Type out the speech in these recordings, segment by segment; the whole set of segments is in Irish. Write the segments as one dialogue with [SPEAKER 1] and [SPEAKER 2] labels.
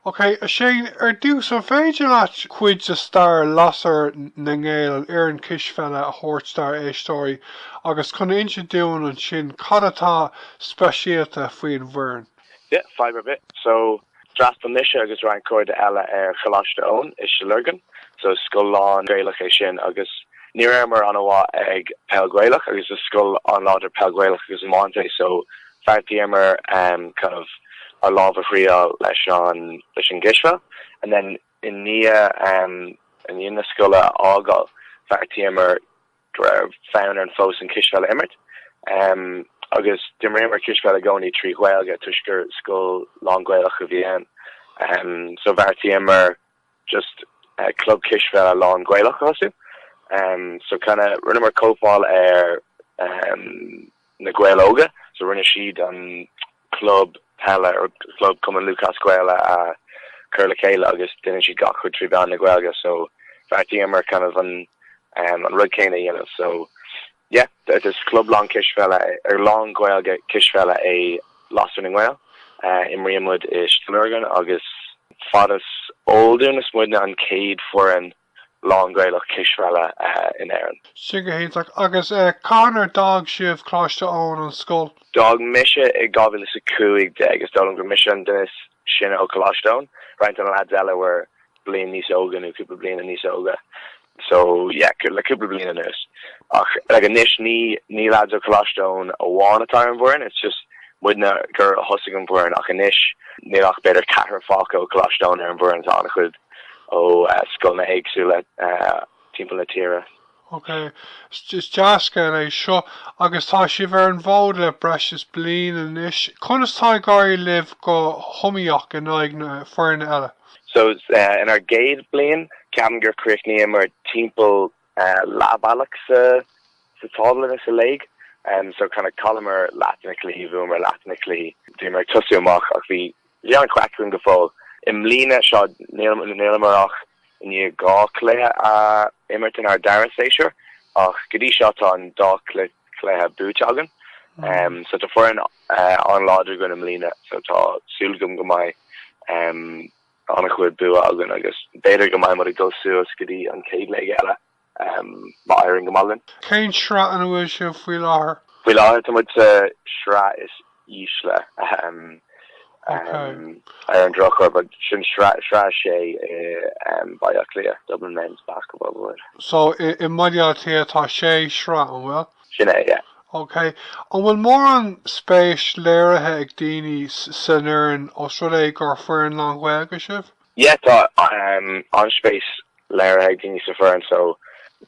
[SPEAKER 1] OK, a Shane, ar dtús, an féidir leat cuid de stair Lasair na nGael, an fhoireann cispheile, a thabhairt dár éisteoirí agus chun insint dúinn ansin cad atá speisialta faoin bhfoireann? Yeah, fadhb ar
[SPEAKER 2] bith. So, d'fhreastail mise agus roinnt cairde eile ar Choláiste Eoin i Stigh Lorgan. So, scoil lán-Ghaelach é sin agus ní rabhamar an-mhaith ag Peil Ghaelach agus is scoil an-láidir Peil Ghaelach agus Iomáint é so bheartaíomar kind of ár lámh a thriáil leis an gcispheil and then i ndiaidh i ndiaidh na scoile a fhágáil bheartaíomar go raibh fonn orainn fós an cispheil a imirt agus d'imríomar cispheil i gcónaí trí Ghaeilge toisc gur scoil lán-Ghaelach a bhí ann so bheartaíomar just club cispheile lán-Ghaelach a bhunú so kind of rinneamar cóipeáil ar na Gaeil Óga so rinne siad an club peile or club cumann lúthchleas gael a chur le chéile agus deineann siad gach rud trí mheán na gaeilge so bheartaíomar kind of an rud céanna a dhéanamh so Yep, is club lán cispheile nó lánGhaeilge cispheile é Lasair na nGael. Imríonn muid i Stigh Lorgan agus fad is eol dúinn is muidne an chéad foireann lánGhaelach cispheile in Éirinn. Sin go
[SPEAKER 1] hiontach. Agus cathain a d'fhág sibh Coláiste Eoin, an scoil? D'fhág
[SPEAKER 2] mise i 2015. Is dóigh liom gur mise an duine is sine ó Choláiste Eoin, roinnt de na lads eile were bliain níos óige nó cúpla bliana níos óige. So, yeah, le cúpla bliain anuas. Ach, like, anois ní ní lads ó Coláiste Eoin amháin atá ar an bhfoireann, it's just muidne a thosaigh an foireann ach anois níl ach b'fhéidir ceathrar fágtha ó Coláiste Eoin ar an bhfoireann, tá an-chuid ó scoileanna éagsúla timpeall na tíre.
[SPEAKER 1] Ok, is deas an ní é seo agus tá sibh ar an bhfód le breis is bliain anois. Conas tá ag éirí libh go hiomaíoch in aghaidh na bhfoirne eile?
[SPEAKER 2] So, inár gcéad bliain, ceapaim gur chríochnaíomar timpeall leath bealach sa tábla sa léig. So, kind of, chailleamar leath de na cluichí, bhuamar leath de na cluichí. Bhíomar ag tosú amach ach bhí an-chraic againn go fóill. I mbliana, seo, níleamar ach i ndiaidh dhá cluiche a imirt inár dara séasúr ach go dtí seo tá an dá cluiche, chluiche buaite againn so tá foireann an-láidir againn i mbliana so tá súil agam go mbeidh an-chuid bua againn agus b'fhéidir go mbeidh muid ag dul suas go dtí an chéad léig eile má éiríonn go maith linn. Cén sraith ina
[SPEAKER 1] bhfuil sibh faoi láthair? Faoi láthair tá muid sa
[SPEAKER 2] sraith is
[SPEAKER 1] ísle. Ar an
[SPEAKER 2] drochuair, sin sraith 6 i Baile Átha Cliath, Dublin Men's Basketball Board. So, i mBaile
[SPEAKER 1] Átha Cliath tá 6 shraith, an bhfuil? Sin é,
[SPEAKER 2] yeah. OK.
[SPEAKER 1] An bhfuil mórán spéis léirithe ag daoine san fhoireann os rud é gur foireann lánGhaeilge sibh? yeah
[SPEAKER 2] tá an-spéis léirithe ag daoine sa foireann so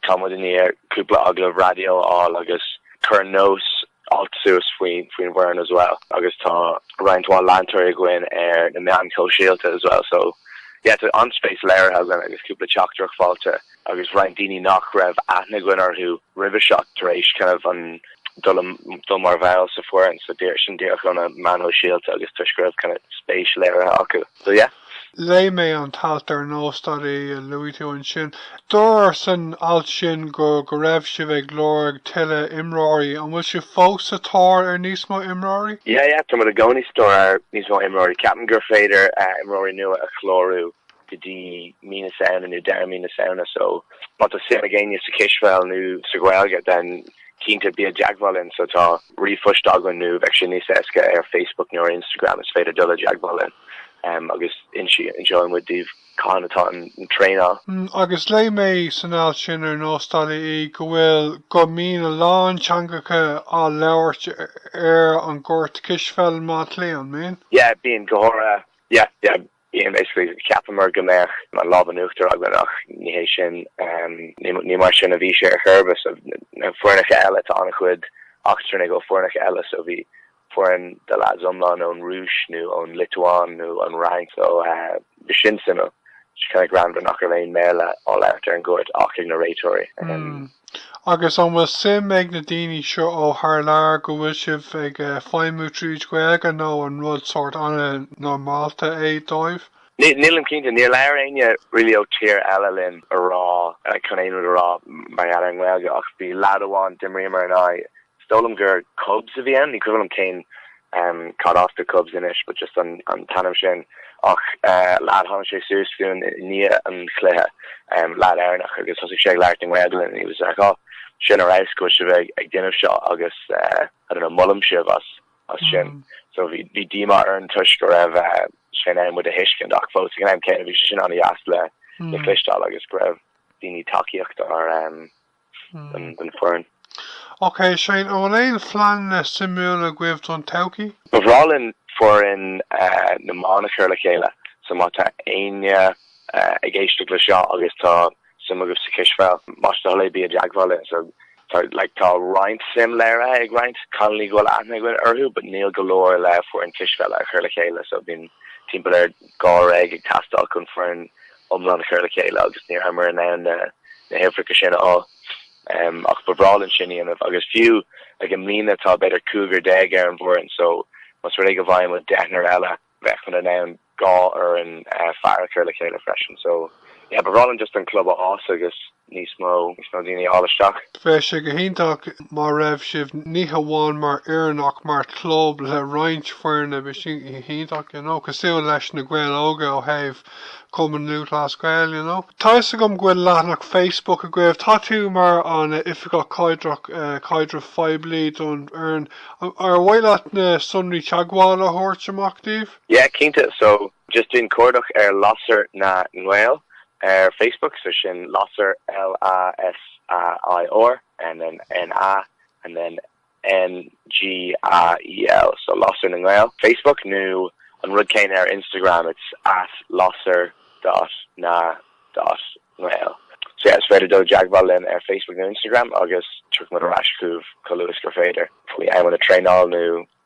[SPEAKER 2] tá muid i ndiaidh cúpla agallamh raidió a fháil agus cuireadh nós alt suas faoin bhfoireann as well agus tá roinnt mhaith leantóirí againn ar na meáin shóisialta as well so yeah tá an-spéis léirithe againn agus cúpla teachtaireacht faighte agus roinnt daoine nach raibh aithne againn orthu roimhe seo tar éis kind of an dul i dul mar bhall sa foireann so díreach sin díreach ó na meáin shóisialta agus toisc go raibh kind of spéis léirithe acu so yeah. Léigh mé an
[SPEAKER 1] t-alt ar Nós dot ie a luaigh tú ansin. Dúradh san alt sin go go raibh sibh ag lorg tuilleadh imreoirí. An bhfuil sibh fós sa tóir ar níos mó imreoirí? Yeah, yeah, tá muid i gcónaí
[SPEAKER 2] sa tóir ar níos mó imreoirí. Ceapaim gur féidir imreoirí nua a chlárú. go dtí mí na Samhna nó deireadh mí na Samhna so má tá suim ag éinne sa chispheil nó sa Ghaeilge then cinnte bí i dteagmháil linn so tá ríomhphost againn nó bheadh sé níos éasca ar Facebook nó ar Instagram is féidir dul i dteagmháil linn um, agus inseoidh muid daoibh cathain atá an traenáil. Mm, agus léigh
[SPEAKER 1] mé san alt sin ar Nós dot ie go bhfuil go mbíonn a lán teangacha á labhairt ar an gcúirt cispheile i mBaile Átha Cliath an mbíonn? Yeah, bíonn go
[SPEAKER 2] háirithe yeah, yeah, Bíonn, basically, cheapamar go mbeadh an lámh in uachtar againn ach ní hé sin, ní mar sin a bhí sé ar chor ar bith. So na foirneacha eile, tá an-chuid eachtrannaigh ar foirneacha eile, so bhí foireann de leads iomlán ón Rúis nó ón Liotuáin nó ón bhFrainc, so b'shin suimiúil, kind of greannmhar nach raibh aon Bhéarla á labhairt ar an gcúirt ach ag na réiteoirí.
[SPEAKER 1] Agus an bhfuil suim ag na daoine seo ó thar lear go bhfuil sibh ag feidhmiú tríd Ghaeilge nó an rud sórt an-normálta é dóibh? Nílim cinnte.
[SPEAKER 2] Níor labhair éinne really ó tír eile linn a rá, chun aon rud a rá mar gheall ar an nGaeilge ach bhí leaid amháin, d'imríomar in aghaidh Is dóigh liom gur Cubs a bhí ann, ní cuimhin liom cén cad as do Cubs anois but just an t-ainm sin ach leaid tháinig sé suas chugainn i ndiaidh an chluiche, leaid Éireannach agus thosaigh sé ag labhairt i nGaeilge and he was like oh sin ar fheabhas go bhfuil sibh ag déanamh seo agus I don't know molaim sibh as sin so bhí díomá orainn toisc go raibh sé in ann muid a thuiscint ach fós ag an am céanna bhí sé sin an-deas le cloisteáil agus go raibh daoine tacaíochta ar den foireann.
[SPEAKER 1] Ok, Shane, an bhfuil aon phleananna suimiúil agaibh don todhchaí? Ba bhreá
[SPEAKER 2] linn foireann na mban a chur le chéile, so má tá éinne ag éisteacht le seo agus tá suim agaibh sa chispheil, más é do thoil é bí i dteagmháil linn. So tá like tá roinnt suim léirithe ag roinnt cailiní go bhfuil aithne againn orthu but níl go leor le haghaidh foireann cispheile a chur le chéile so bíonn timpeall ar dháréag ag teastáil chun foireann iomlán a chur le chéile agus ní rabhamar in ann na huimhreacha sin a fháil. Ach ba bhreá linn sin a dhéanamh agus fiú i mbliana atá b'fhéidir cúigear déag ar an bhfoireann so más rud é go bhfaigheadh muid deichniúr eile, bheadh muid in ann dhá fhoireann fear a chur le chéile freisin. So, yeah, ba bhreá linn just an club a fhás agus. níos mó, níos mó daoine a fháil isteach. Bheadh sé
[SPEAKER 1] go hiontach má raibh sibh ní hamháin mar fhoireann ach mar chlub le roinnt foirne bheadh sé sin go hiontach you know cosúil leis Na Gaeil Óga ó thaobh Cumann Lúthchleas Gael you know. Tá 'fhios agam go bhfuil leathanach Facebook agaibh, tá tú mar an Oifigeach Caidreach Caidrimh Phoiblí don fhoireann, ar mhaith leat na sonraí teagmhála a thabhairt amach dóibh? Yeah cinnte so
[SPEAKER 2] just déan cuardach ar lasair na nGael ar Facebook so sin lasair L-a-s-a-i-r and then n-a and then n-g-a-e-l so lasair na nGael Facebook nó an rud céanna ar Instagram it's at lasair dot na dot ngael so yeah is féidir dul i dteagmháil linn ar Facebook nó Instagram agus tiocfaimid ar ais chugaibh chomh luath agus is féidir faoi amanna traenála nó